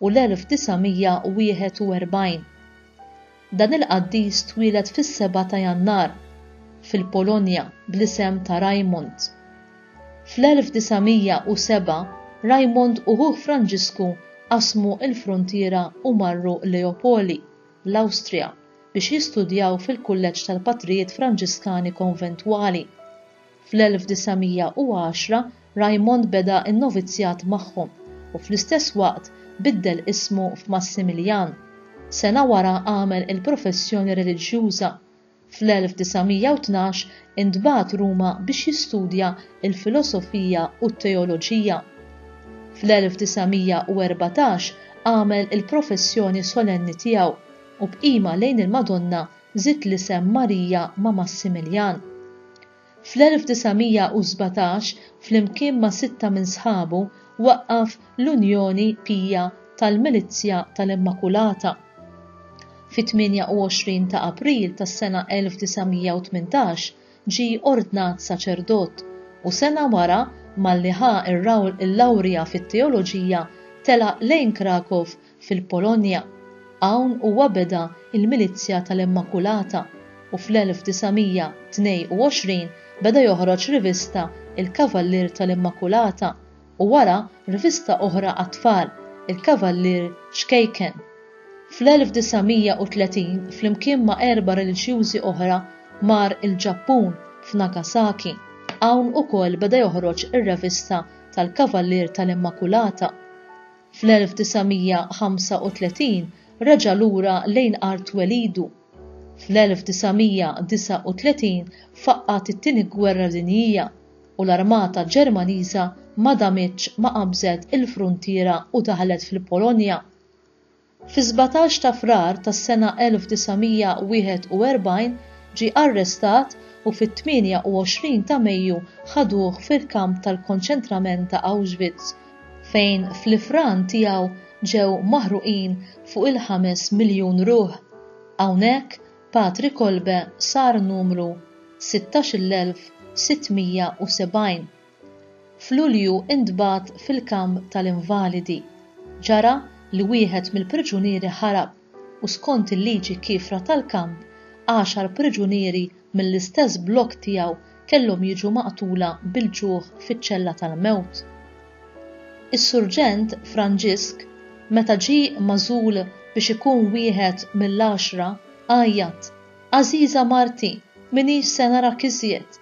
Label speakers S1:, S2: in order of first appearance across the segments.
S1: u l-1941. Dan il-qaddis twieled fis-Seba' ta' Jannar, fil-Polonja, bl-isem ta' Rajmund. Fl-1907, Rajmund u ħuh Franġisku qasmu l-fruntiera u marru Leopoli, l-Awstrija, biex jistudjaw fil-Kulleġġ tal-Patrijiet Franġiskani Konventwali. Fl-1910 Raymond beda n-novizzjat magħhom u fl-istess waqt biddel ismu f'Massimiljan. Sena wara għamel il-professjoni reliġjuża. Fl-1912 intbagħat Ruma biex jistudja l-filosofija u t-teoloġija. Fl-1914 għamel il-professjoni solenni tiegħu u b'qima lejn il-Madonna żied l-isem Marija ma' Massimiljan. Fl-1917, flimkien ma' sitta minn sħabu, waqqaf l-Unjoni Pija tal-Milizzja tal-Immakulata. Fit-28 ta' April tas-sena 1918 ġie ordnat saċerdot, u sena wara, malli ħa l-lawrja fit-teoloġija, telaq lejn Krakow fil-Polonja. Hawn huwa beda l-Milizzja tal-Immakulata u fl-1922 beda joħroġ rivista Il-Kavallier tal-Immakulata u wara rivista oħra għat-tfal, Il-Kavallier Ċkejken. Fl-1930 flimkien ma' erba' reliġjużi oħra mar il-Ġappun f'Nagasaki. Hawn ukoll beda joħroġ ir-revista tal-Kavallier tal-Immakulata. fl-1935 reġa' lura lejn art twelidu. Fl-1939 faqqgħet it-Tieni Gwerra Dinjija u l-armata Ġermaniża ma damitx ma qabżet il-fruntiera u daħlet fil-Polonja. Fis-sbatax ta' Frar tas-sena 1941 ġie arrestat u fit-28 ta' Mejju ħaduh fil-kamp tal-konċentrament ta' Auschwitz fejn fl-ifran tiegħu ġew maħruqin fuq il-ħames miljun ruħ. Hawnhekk Patri Kolbe sar numru 16,670. F'Lulju intbagħat fil-kamp tal-invalidi. Ġara li wieħed mill-priġunieri ħarab. u skont il-liġi kiefra tal-kamp, għaxar priġunieri mill-istess blokk tiegħu kellhom jiġu maqtula bil-ġuħ fiċ-ċella tal-mewt. Is-Surġent Franġisk, meta ġie magħżul biex ikun wieħed mill-għaxra, għajjat, Għażiża marti, m'iniex se narak iżjed!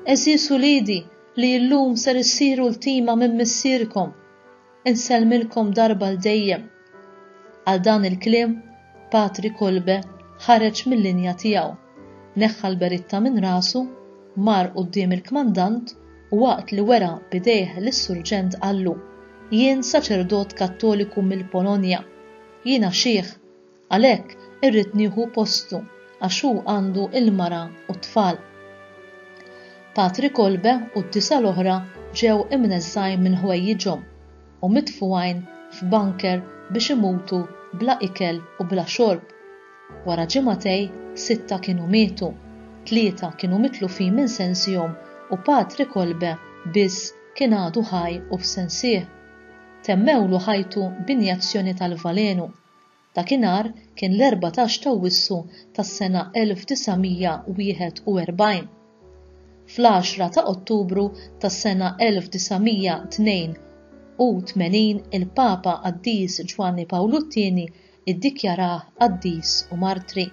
S1: Għeżież uliedi li illum ser issiru ltima minn missierkom! Insellmilkom darba għal dejjem. Għal dan il-kliem, Patri Kolbe ħareġ mil-linja tiegħu, neħħa l-beritta minn rasu, mar quddiem il-kmandant u waqt li wera b'idejh lis-surġent qallu, Jien saċerdot Kattoliku mill-Polonja. Jiena xiħ. Għalhekk irrid nieħu postu għax hu għandu l-mara u t-tfal. Patri Kolbe u d-disa' l-oħra ġew imneżżgħin minn ħwejjiġhom u mitfugħin f'bunker biex imutu bla ikel u bla xorb. Wara ġimgħatej sitta kienu mietu, tlieta kienu mitlufin minn sensihom u Patri Kolbe biss kien għadu ħaj u f'sensih. Temmewlu ħajtu b'injezzjoni tal-valenu Dakinhar kien l-erbatax t'Awwissu tas-sena 1941. Fl-għaxra ta' Ottubru tas-sena 1982 il-Papa Qaddis Ġwanni Pawlu t-Tieni iddikjarah qaddis u martri.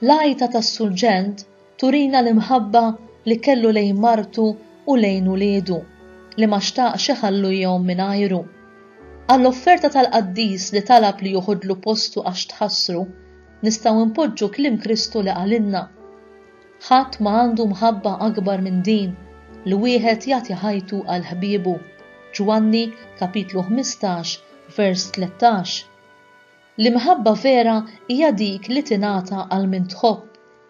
S1: L-għajta tas-surġent turina l-imħabba li kellu lejn martu u lejn uliedu, li ma xtaqx iħallu jom mingħajru. Għall-offerta tal-qaddis li talab li joħodlu postu għax tħassru, nistgħu npoġġu kliem Kristu li qalilna, Ħadd ma għandu mħabba akbar minn din, li wieħed jagħti ħajtu għal ħbiebu. Ġwanni, kapitlu 15, vers 13. L-imħabba vera hija dik li tingħata għal min tħobb,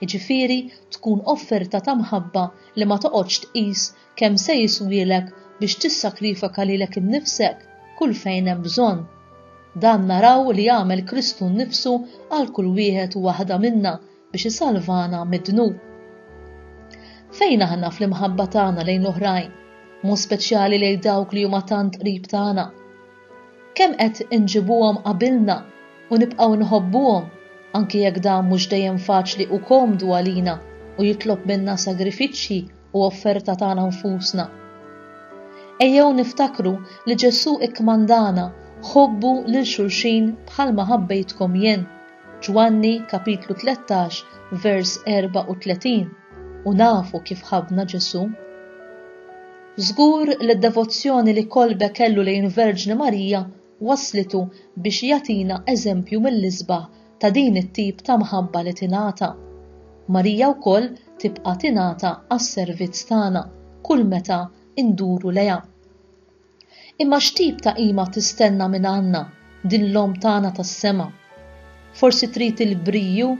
S1: jiġifieri tkun offerta ta' mħabba li ma toqgħodx tqis kemm se jiswielek biex tissakrifaka lilek innifsek kull fejn hemm bżonn. Dan naraw li għamel Kristu nnifsu għal kull wieħed u waħda minna biex isalvana mid-dnub. Fejn aħna fl-imħabba tagħna lejn l-oħrajn, mod speċjali lejn dawk li huma tant qrib tagħna, kemm qed inġibuhom qabilna u nibqgħu nħobbuhom anki jekk dan mhux dejjem faċli u komdu għalina u jitlob minna sagrifiċċji u offerta tagħna nfusna. Ejjew niftakru li Ġesù ikkmandana ħobbu lil xulxin bħalma ħabbejtkom jien. Ġwanni kapitlu 13 vers 34 u nafu kif ħabna Ġesu. Żgur li d-devozzjoni li kolbe kellu lejn Verġni Marija wasslitu biex jagħtina eżempju mill-isbaħ ta' din it-tip ta' mħabba li tingħata. Marija wkoll tibqa' tingħata għas-servizz tagħna kull meta induru lejha. Imma x'tip ta' qima tistenna minn Anna, din l-Omm tagħna tas-sema? Forsi trid il-briju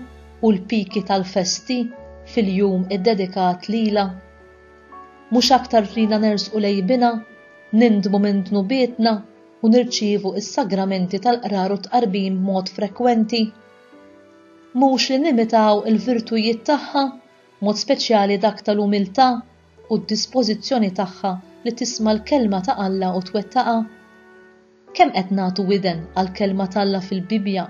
S1: u l-piki tal-festi fil-jum iddedikat lilha? Mhux aktar trina nersqu lejn Binha, nindmu minn dnubietna u nirċievu s-sagramenti tal-Qrar u t-Tqarbin b'mod frekwenti? Mhux li nimitaw il-virtujiet tagħha, b'mod speċjali dak tal-umiltà u d-dispożizzjoni tagħha li tisma' l-Kelma ta' Alla u twettaqha? Kemm qed nagħtu widen għall-Kelma t'Alla fil-Bibbja?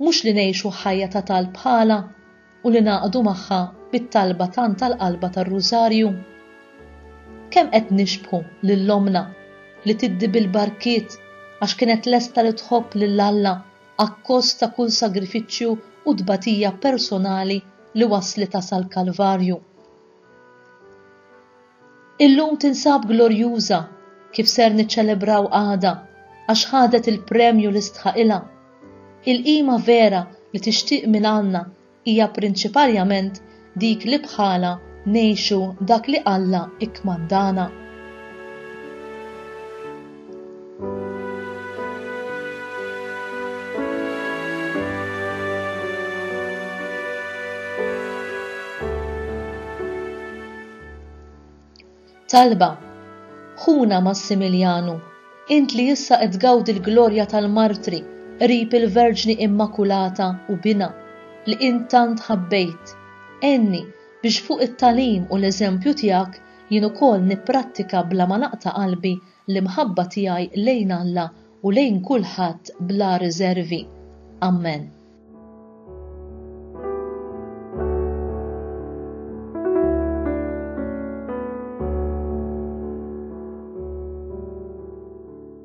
S1: Mhux li ngħixu ħajja ta' talb ħala u li ngħaqdu magħha bit-talba tant tal-qalba tar-Rużarju? Kemm qed nixbħu lil ommna li tiddi bil-barkiet għax kienet lesta li tħobb lil Alla akkost ta' kull sagrifiċċju u tbatija personali li wasslitha sal-Kalvarju. Illum tinsab glorjuża kif ser niċċelebraw għada għax ħadet il-premju li stħaqilha. Il-qima vera li tixtieq minn Alla hija prinċiparjament dik li bħalha ngħixu dak li Alla ikkmandana. Talba, ħuna Massimiljanu, int li issa qed tgawdi l-glorja tal-martri qrib il-Verġni Immakulata u bina li int tant ħabbejt. Enni biex fuq it-talim u l-eżempju tiegħek Jien ukoll nipprattika bla ma naqta' qalbi l-imħabba tiegħi lejn Alla u lejn kulħadd bla riżervi. Ammen.